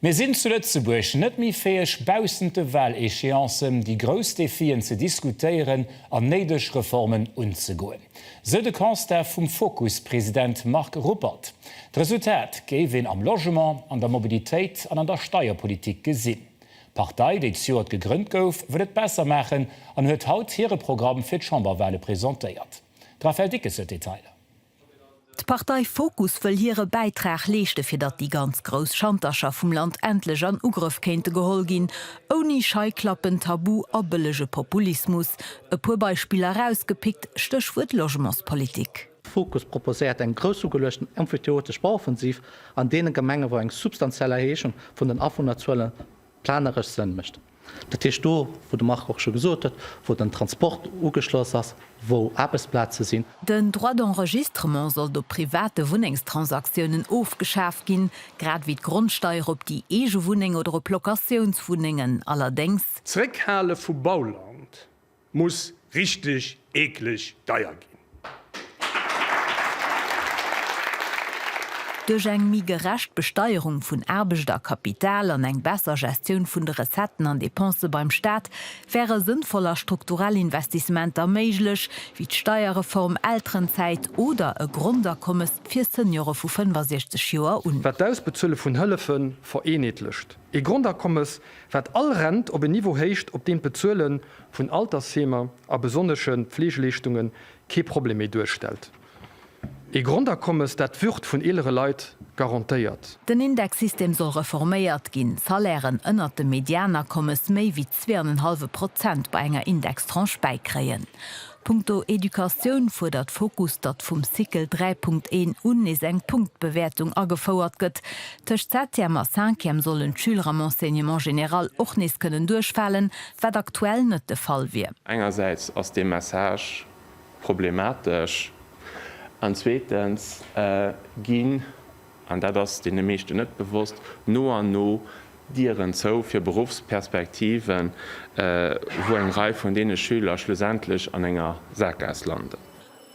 Mir sinn zu Lëtzebuerg net méi fäeg, baussent de Wahléchéancen déi grouss Defien ze diskutéieren an néideg Reformen unzegoen, sou de Constat vum Fokus-President Marc Ruppert. D'Resultat géif een am Logement, an der Mobilitéit an an der Steierpolitik gesinn. D'Partei, déi zejoert gegrënnt gouf, wëll et besser maachen an huet haut hire Programm fir d'Chamberwahle presentéiert. De Raphaël Dickes huet d'Detailer. D'Partei Fokus wëll hire Bäitrag leeschte fir datt déi ganz grouss Schantercher vum Land endlech an Ugrëff kéinte geholl ginn, ouni Scheiklappen, Tabu a bëllege Populismus. E puer Beispiller erausgepickt, Stéchwuert Logementspolitik. Fokus proposéiert eng groussugeluechten emphyteotesch Bauoffensiv an deene Gemenge wou eng substantiell Erhéichung vun den Awunnerzuelen Planeresch Sënn mécht. Dat heescht do, wou de Marc och scho gesot huet, wou den Transport ugeschloss ass, wou Aarbechtsplaze sinn. Den Droit d'enregistrement sollt op private Wunnengstransaktiounen ofgeschaaft ginn, grad wéi d'Grondsteier op déi eege Wunneng oder op Locatiounswunnengen. Allerdéngs. Zréckhale vu Bauland. Muss richteg eekleg deier ginn. Duerch eng méi gerecht Besteierung vun Aarbecht a Kapital an eng besser Gestioun vun de Recetten an Depensë beim Staat wäre sënnvoll a strukturell Investissementer méiglech, wéi d'Steierreform, Elterenzäit oder e Grondakommes fir Seniore vu 65 Joer un. Wat d'Ausbezuele vun Hëllefe vereenheetlecht, Ee Grondakommes, wat all Rent op en Niveau héicht, op deem d'Bezuele vun Altersheemer a besonnesche Pfleegeleeschtunge kee Problem méi duerstellt. Ee Grondakommes, dat d'Würd vun eelere Leit garantéiert. Den Indexsystem soll reforméiert ginn, d'Salairen ënnert dem Medianakommes méi wéi zwee an en hallwe Prozent bei enger Indextranche bäikréien. Punkto Educatioun fuerdert Fokus, datt vum Cycle 3.1 un nees eng Punktbewäertung agefouert gëtt. Tëscht Septième a Cinquième sollen d'Schüler am Enseignement général och nees kënnen duerchfalen, wat aktuell net de Fall wier. Engersäits ass dee Message problematesch an zweetens ginn an dat ass deene meeschten net bewosst, no an no Dieren zou fir Beruffsperspektiven, wou eng Rei vun deene Schüler schlussendlech an enger Saakgaass landen.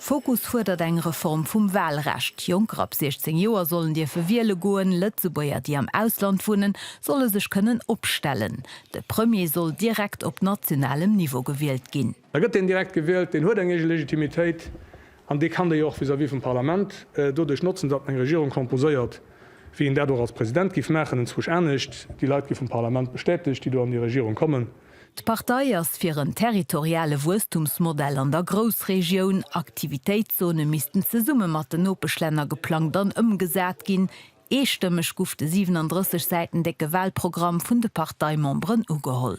Fokus fuerdert eng Reform vum Walrecht. Jonker ab 16 Joer sollen dierfe wiele goen. Lëtzebuerger, déi am Ausland wunnen, solle sech kënnen opstellen. De Premier soll direkt op nationalem Niveau gewielt ginn. A gëtt deen direkt gewielt, deen huet eng eege Legitimitéit, An dee kann dee jo och vis-à-vis vum Parlament doduerch notzen, datt en eng Regierung composéiert, wéi een dat och als President giff maachen, enzwousch anescht. Déi Leit gi vum Parlament bestätegt, déi do an déi Regierung kommen. D'Partei ass fir en territoriale Wuesstumsmodell an der Groussregioun. Aktivitéitszone missten zesumme mat den Nopeschlänner geplangt an ëmgesat ginn. Eestëmmeg guff de 37 Säiten décke Walprogramm vun de Parteimemberen ugeholl.